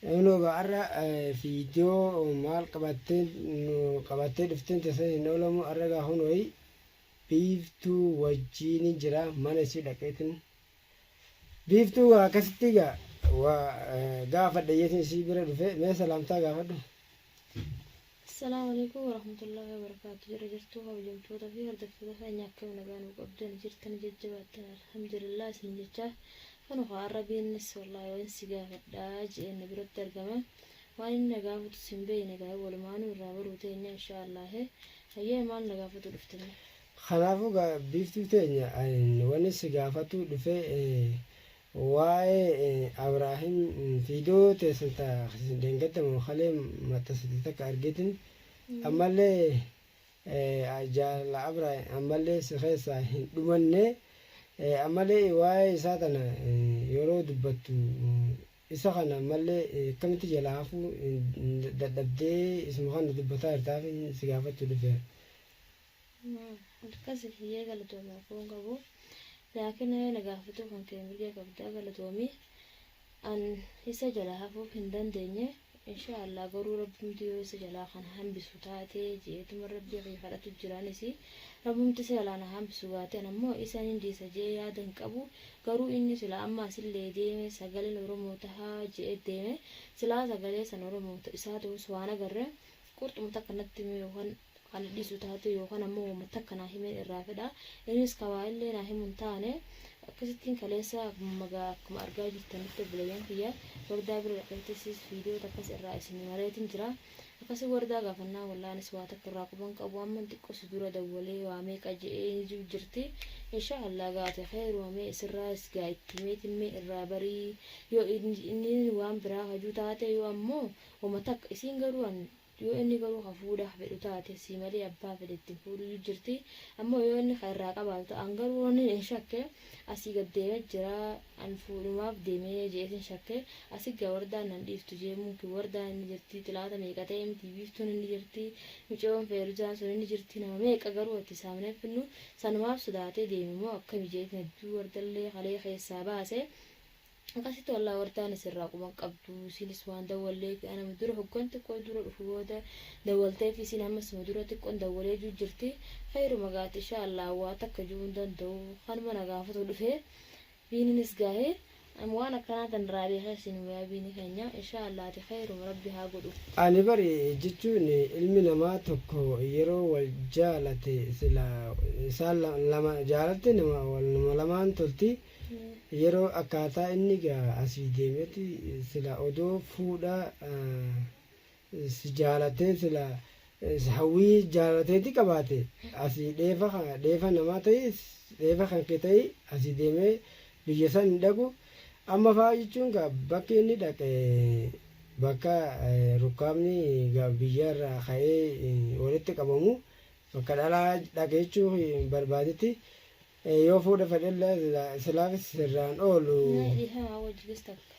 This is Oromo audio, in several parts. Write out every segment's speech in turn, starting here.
Kunoo gaa arra fiidiyoo maal qabattee nu qabattee dhufteen tasan hin oolamu arra gaa kunooyi biiftuu wajjiini jira mana isii dhaqeetin biiftuu gaa akkasitti gaa waa gaafadha jeetin isii bira dhufe mee salaamtaa gaafadhu Assalaamu Aleykum Warahmatullaahi Wabarakaatuh Jirra jirtuu kabajamtoota fi hordoftoota keenya akkam nagaa nu qabdan jirtan jajjabaattan alhamdulillah isin jechaa kanu haa arrabiinnis wallaahi waan si gaafadhaa je'een na biratti argama waan inni na gaafatu sin beeyne gaa walumaanuu irraa baruu teenya inshaa allaahe hayyee maal na gaafatu dhuftanii Kanaafuu gaa biiftuu teenya ani wani si gaafatu dhufee eh, Waa'ee Abraahim viidiyoo teessan ta dheengadda moo kalee maxxansite takka argeetin ammallee jaalala Abraahim ammallee si keessaa hin dhumanne ammallee waa'ee isaa tana yeroo dubbattu isa kana ammallee akkamitti jalaa hafuu dadhabdee isuma kana dubbataa jirtaaf si gaafachuu dhufeera. Akkasi hayyee galatoomi rakkoo hin qabu. Laakina yoo na gaafatuu kan kee mirga qabda galatoomi. An isa jalaa hafuuf hin dandeenye inshaa Allah garuu rabbumti yoo isa jalaa kan hambisu taate jeetuma rabbii kiyya kadhatu jiraanis rabbumti isa jalaa na hambisu gaate an ammoo isa nin dhiisa jee yaada hin qabu garuu inni sila amma asillee deeme sagaleen Oromoo tahaa jee deeme silaa sagalee san Oromoo isaa ta'us waan agarre Qurxuma takka natti himee yookaan kan na dhiisu taate yookaan ammoo wama takka naa himeen irraa fedha. Innis ka waa illee naa himu hin taane. Akkasittiin kaleessa magaa akkuma argaa jirtanitti obboleeyyan kiyya wardaa bira dhaqeettis viidiyoo takkas irraa isin mareetiin jira. Akkasi wardaa gaafannaan wallahi anis waa takka irraa quban qabu amman xiqqoo si dura dawwalee waa meeqa je'ee ni jiru jirti. Inshaa Allah gaa ati kheyruma mee isirraayis gaa itti himeetiin mee irraa barii yoo inni waan biraa hajuu taate yoo ammoo Homa takka. Isiin garuu an yoo inni garuu ka fuudhaaf fedhu taate sii malee abbaa fedhe itti hin fuudhuyyu jirti. Ammoo yoo inni ka irraa qabaatu ta, an garuu wannin in shakke asii gad deeme jira an fuudhumaaf deeme je'eetin shakke asi ga wardaan nan dhiiftu jee mumkin wardaan inni jirti xilaata meeqa ta'e miti biiftuun inni jirti micayoon feeruzaan sun inni jirti nama meeqa garuu itti saamnee finnu sanumaaf sodaatee deeme moo akkami je'eetin hedduu wardallee kalee keessaa baase Akkasitti wal awwartaan isin irraa quban qabdu. Isiinis waan dawwalleefi ana dura hoggan xiqqoo dura dhufu booda dawwalteefi isiin ammas suma dura xiqqoon dawwalee juu jirti. Khayruma gaati ishaa Allah waa takka ju'uu hin danda'u. Kanuma na gaafatu dhufe. Biininis gaahe. Am waan akkanaa tan irraa beekee isin hin wayaa biini keenya. Ishaa Allah ati khayruma rabbi haa godhu. Ani bari jechuun ilmi namaa tokko yeroo wal jaalate silaa isaan lama jaalatte nama lamaan tolti Yeroo akkaataa inni egaa asii deemeti sila odoo fuudha si jaalatee sila hawwii jaalala teeti qabaate asii dheefa dheefa namaa ta'i dheefa kan kee ta'i asii deemee biyya san hin dhaqu amma fa'aa jechuun gaa bakki inni dhaqe bakka rukkaabni gaa biyya irraa ka'ee walitti qabamu bakka dhalaa dhaqe jechuu barbaadeti Ee yoo fuudha fedhellee silaa silaafis sirraan oolu. Mee dhifamaa wajji gis takka.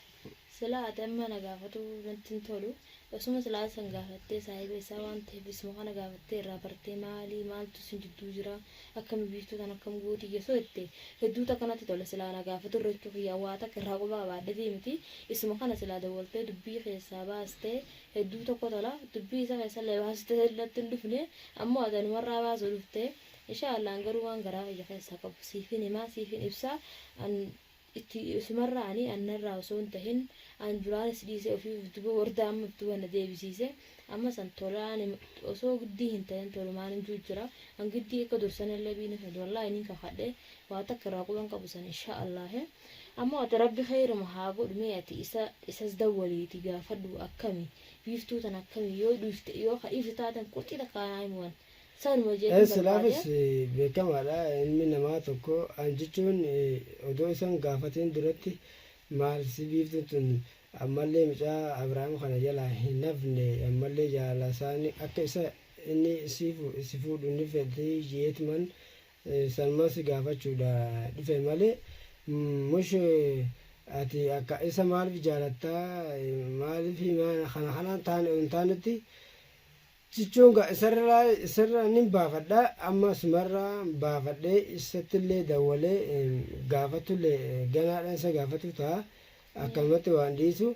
Silaa ati amma na gaafatuu natti hin tolu. Osuma silaa san gaafattee saahiba isaa waan taheef isuma kana gaafattee irraa bartee maali maaltu isin jidduu jira akkami biiftuu tan akkam gootii yesoo jette hedduu takka natti tola silaa na gaafatu irra jechuu kiyyaa waa takka irraa quba qabaadhefii miti isuma kana silaa dawwaltee dubbii keessaa baastee hedduu tokko tola dubbii isa keessallee baasistee natti hin dhufne ammoo ati anumarraa baasuu dhuftee Inshaa Allah an garuu waan garaa kiyya keessaa qabu siifin himaa siifin ibsaa an itti isumarraa ani an narraa osoo hin tahin an duraanis dhiisee ofii of duba wardaa amma of duba na deebisiise amma san tola ani osoo giddii hin tahin tolumaan hin juu jira an giddii akka dursanillee biinif hin wallaahi niin kakadhe waa takka irraa quban qabu san inshaa Allah ammoo ati rabbi khayruma haa godhu mee ati isa isas dawwaliiti gaafadhu akkami biiftuu tan akkami yoo dhiifte yoo ka dhiiftu taaten qurxii takka naa himi wan Isaanuma S jechuun barbaade. Silaafis beekamaadha ilmi namaa tokko an jechuun odoo isa hin gaafatiin duratti maal si biiftuun tun ammallee mucaa Abrahaam kana jalaa hin hafne ammallee jaalasaanii akka isa inni si fu- si fuudhu ni fedhii jeetman sanumaan si gaafachuudha dhufe malee mm, mush ati akka isa maaliif jaalattaa maaliif himaa kana kanaan taane hin taanetti Cichoon gaa isarraa isarraa nin baafadha amma sumarraa baafadhee isattillee dawwalee em, gaafatullee eh, ganaadhaan isa gaafatu ta'a akkanumatti waan dhiisu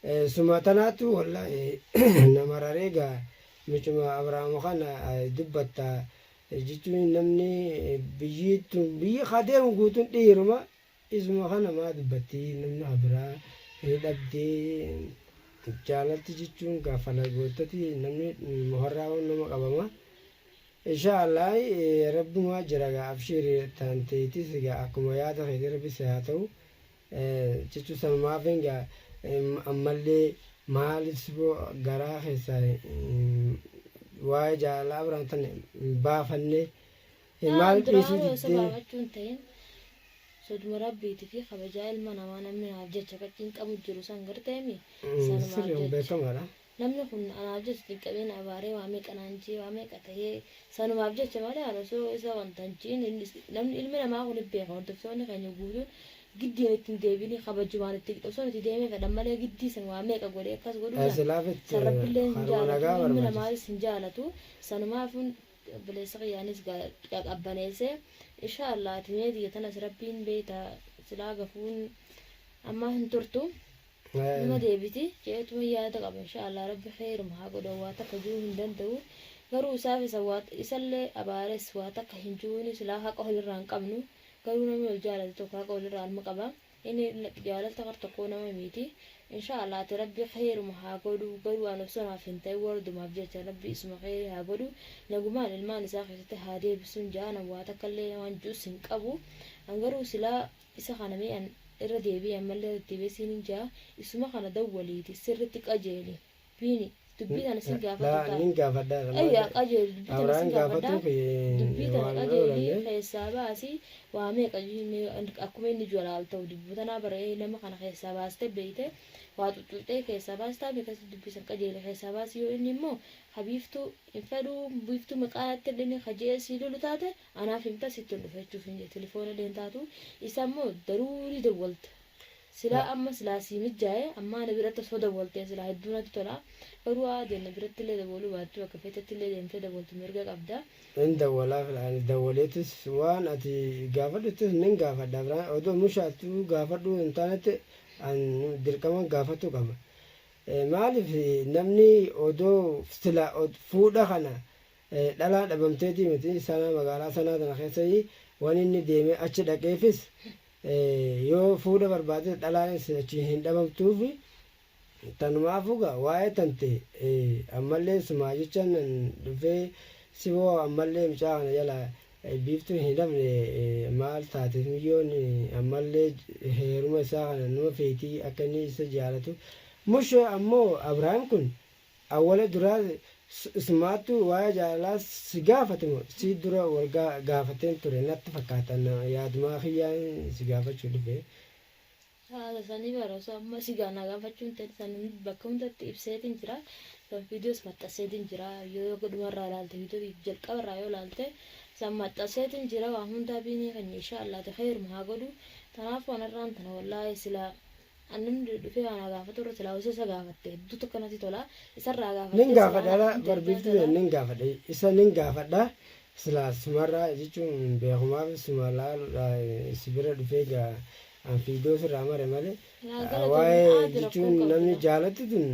Eh, suma tanaatu wallaahi nama raree gaa micuma abrahaam kana eh, dubbatta eh, jechuun namni eh, biyyi tun biyyi haa deemu guutuun dhiiruma Isuma kana maa dubbatti namni ka biraa ni dhabdee channalti jechuun gaa falagoottati namni muharraa waan nama qabama inshaa allaah rabbumaa jira gaa abshiiri tan teetis gaa akkuma yaada keetii rabbi si haa ta'u jechuu sanumaafin gaa ammallee maalif siboo garaa keessaa waa'ee jaalalaa abraham tan hin baafanne Yaa Maal an dhiisuu duraanuu osoo diddee? baafachuu hin ta'in soduma rabbiiti fi kabajaa ilma namaa namni naaf jecha ka cinqamu jiru san garteemi Mm, sanumaaf Sirri kun jecha beekamaadha. namni kun anaaf jecha cinqamee na abaaree waa meeqa naan jee waa meeqa ta'ee sanumaaf jecha malee an osoo isa wanta hin jiin inni is- namni ilmi namaa kun hin beeka hordoftoonni keenya guutuun giddiin itti hin deebinii kabajumaan itti osoo itti deemee fedhan malee giddii san waa meeqa godhee akkas godhuu san Asilaafit san rabbilleen hin kaaruma jaalatu nagaa ilmi barbaachisa. namaatis hin jaalatu sanumaafun obboleessa kiyya anis gaa qabbaneesse inshaa Allah ati mee tiyya tanas rabbiin beeyta silaa gafuun ammaa hin turtu numa deebiti jeetuma yaada qaba inshaa Allah rabbi kheeruma haa godhu waa takka juu hin danda'u garuu isaaf isa waa isallee abaares waa takka hin juuni silaa haqa walirraa hin qabnu garuu namni wal jaalate tokko haqa walirraa alma qaba Ini jaalalti kar tokkoo nama miiti insha Allah ati rabbi keeruma haa godhuu garuu an osoo naaf hin ta'in wardumaaf jecha rabbi isuma keerii haa godhuu nagumaan ilmaan isaa keessatti haa deebisun ja'a nan waa takka illee waan ju'us hin qabu an garuu silaa isa kana mee an irra deebi'i ammallee irra deddeebi'ee siinin ja'a isuma kana dawwaliiti sirritti qajeeli Biini dubbii tana sin gaafatu Laa taate. nin gaafadha irra maal Ayyaa jedhe? qajeeli dubbii tana Abraan sin gaafadha. gaafatuuf eh, Dubbii tana waan irra qajeeli oolanii. keessaa baasi waa meeqa jennee akkuma inni jiru laal ta'u dubbii tanaa bara ee nama kana keessaa baaste beeyte waa xuxxuxxee keessaa baastaa fi akkasitti dubbii san qajeeli keessaa baasi yoo inni immoo ha biiftuu hin fedhuu biiftuu maqaa natti hin dhini ha je'ee sii lolu taate anaaf himta sitti hin dhufa jechuuf hin jedhe tilifoona illee hin taatu isa immoo daruurii dawwalta. Silaa amma silaa sii mijjaaye ammaa ana biratti osoo dawwaltee silaa hedduu natti tola garuu aadeen na birattillee dawwaluu baattuu bakka feetettillee deemtee dawwaltu mirga qabda. Hin dawwalaaf laa ani dawwaleetis waan ati gaafadhuttis nin gaafadha biraan odoo mushaattu gaafadhuu hin taanetti an dirqaman gaafachuu qaba maaliif namni odoo silaa fuudha kana dhalaa dhabamteetii miti sanaa magaalaa sanaa tana keessayii waan inni deemee achi dhaqeefis Yoo fuudha barbaadde dhalaanis achi hin dhabamtuufi tanumaafu gaa waa'ee tante ammalleen sumaa jecha nan dhufee siboo ammallee mucaa kana jalaa biiftuun hin hafne maal taateef miyyoon ammallee heeruma isaa kana numa feetii akka inni isa jaalatu mush ammoo abraahim kun Awwala duraa ismaattu waa'ee jaalalaa si gaafate moo sii dura wal gaafateen ture natti fakkaata yaadumaa kiyyaan si gaafachuu dhufe. Haala sanii bara osoo amma si na gaafachuu hin ta'in san bakka hundatti ibseetiin jira san viidiyoos maxxanseetiin jira yoo yoo dhumarraa ilaalte viidiyoo jalqabarraa yoo ilaalte san maxxanseetiin jira waan hundaa biinii keenya inshaa allaati kheeruma haa godhu tanaaf waan har'aan tana wallaahii silaa An namni dhufee waan na gaafatu irra silaa osoo isa gaafatte hedduu takka natti tola. Isarraa gaafadhee Nin silaa gaafadha naaf dha deebisaa barbiiftuu tola. nin gaafadha isa nin gaafadha silaa sumarraa jechuun hin beeku maaf suma laaluudha si bira dhufee gaa an fiidoo sirraa mare malee Naa ah, galatoomi waa'ee aati rakkoon jechuun qabdu namni gaa. jaalattu tun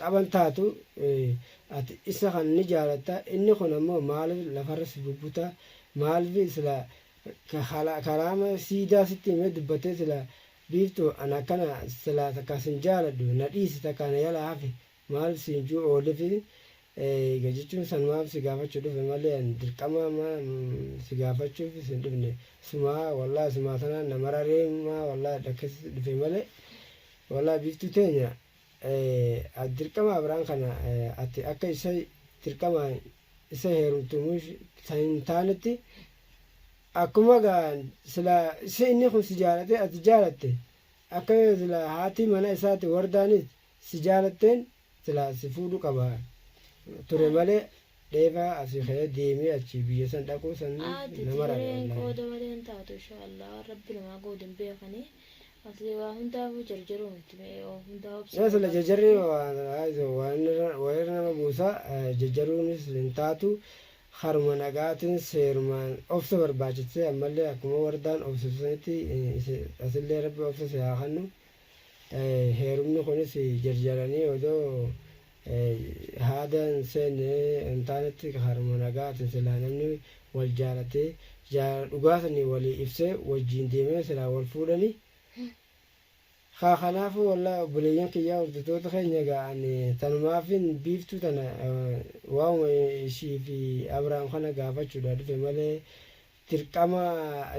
taphan taatu eh, ati isa kan ni jaalatta inni kun ammoo maaliif lafarra si bubbuta maaliif silaa ka- kala- karaama siidaa sitti himee dubbatee silaa Biiftu an akkana silaa takka sin jaaladhu na dhiisi takka na yala hafi maal siin juu oolifi eega jechuun sanumaaf si gaafachu dhufe malee an dirqama ma si gaafachuuf sin dhufne sumaa wallahi sumaa tanaan na mararee maa wallahi dhakkes dhufe malee wallahi biiftu teenya dirqama abraan kana ati akka isa dirqamaan isa heerumtu mushta hin taanetti akkuma gaa sila si inni kun si jaalate ati jaalatte akka yoo sila haati mana isaati wardaanis si jaalatteen sila si fuudhu qaba ture malee dheefa asi ka'ee deemee achi biyya san dhaquu san Aadde nama jireen raawwanna. qooda malee hin taatu insha Allah rabbi namaa goodu hin beekani Asli waa hundaafuu jarjaruu miti mee waa hundaa obsi Yaa sila jajarri walirra nama buusa jajaruunis hin taatu haruma nagaatiin seerumaan obsa barbaachistee ammallee akkuma wardaan obsitu sanitti asillee rabbi obsa si haa kannu heerumni kunis jarjaranii odoo haada hin seenne hin taanetti karuma nagaatiin silaa namni wal jaalatee jaalala dhugaa sanii walii ibsee wajjiin deemee silaa wal fuudhani kaa kanaafuu wallaahi obboleeyyan kiyyaa hordoftoota keenya egaa ani tanumaafin biiftuu tana waa'uma ishii fi abrahaam kana gaafachuudha dhufe malee dirqama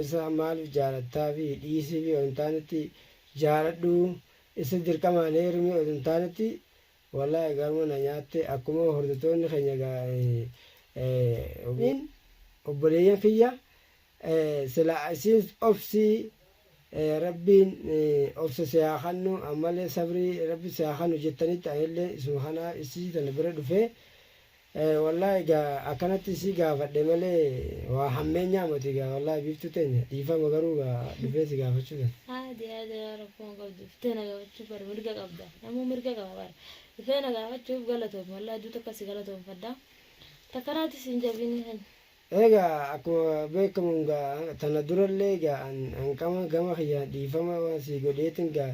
isa maaliif jaalattaa fi dhiisii fi hin taanetti jaaladhu isa dirqamaan heerumii hin taanetti Walahi garma na nyaatte akkuma hordottoonni keenya gaa'aniin obboleeyyan kiyya sila isiin obsii rabbiin obsa si haa kannu ammallee sabrii rabbi si haa kannu jettanitti anillee isuma kanaa isii tana bira dhufee Ee wallahi egaa akkanatti si gaafadhe malee waa hammeenyaa moti egaa wallahi biiftuu teenya dhiifama garuu egaa dhufee si gaafachuu dha. Haati haati yaa rakkoo hin qabdu dhuftee na gaafachuu bar mirga qabda namuu mirga qaba bar dhufee na gaafachuuf galatoomi wallahi hedduu takka si galatoomfadha takka naati si hin jabini kan Egaa akkuma beekkamu egaa tana durallee egaa an hanqama gama kiyyaan dhiifama waan sii godheetin egaa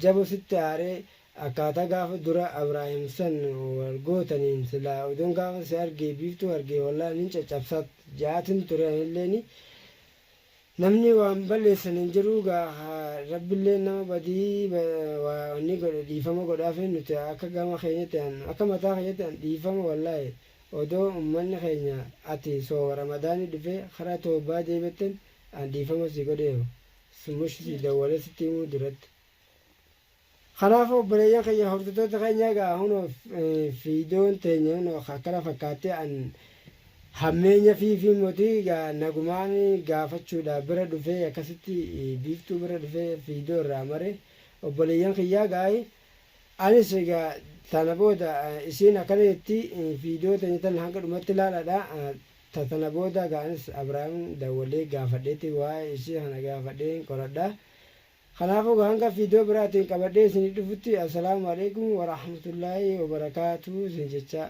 jabo sitti aaree akkaataa gaafa dura Abraahim san wal gootaniin silaa odoon gaafa si argee biiftuu argee wallahi nin caccabsaa ja'aatin ture anilleeni Namni waan balleessan hin jiruu gaa haa rabbilleen nama badii waa wanni godhe dhiifama godhaafii nuti akka gama keenyatti an akka mataa kiyyatti an dhiifama wallaahi odoo ummanni keenya ati sooma ramadaanii dhufee karaa towbaa deebi'atten an dhiifama sii godheeru mush sii dawwalee sitti himuu duratti. Kanaafuu obboleeyyan keenya hordottoota keenya egaa hunoo fiidoon teenya hunoo akkana fakkaattee an hammeenya fiifii motii egaa nagumaan gaafachuudhaa bira dhufee akkasitti biiftuu bira dhufee fiidoo irraa mare obboleeyyan kiyyaa gaa'i anis egaa tana booda isiin akkana jetti fiidoo teenya tan hanga dhumatti laalaadha ta tana booda egaa anis Abrahaam dawwalee gaafadheeti waa'ee isii kana gaafadheen qoradha Kanaaf oga hanga fiidoo biraatiin qabadhee isinii dhufutti Assalaamu Aleykum Warahmatullaahi Wabarakaatuh isin jechaa.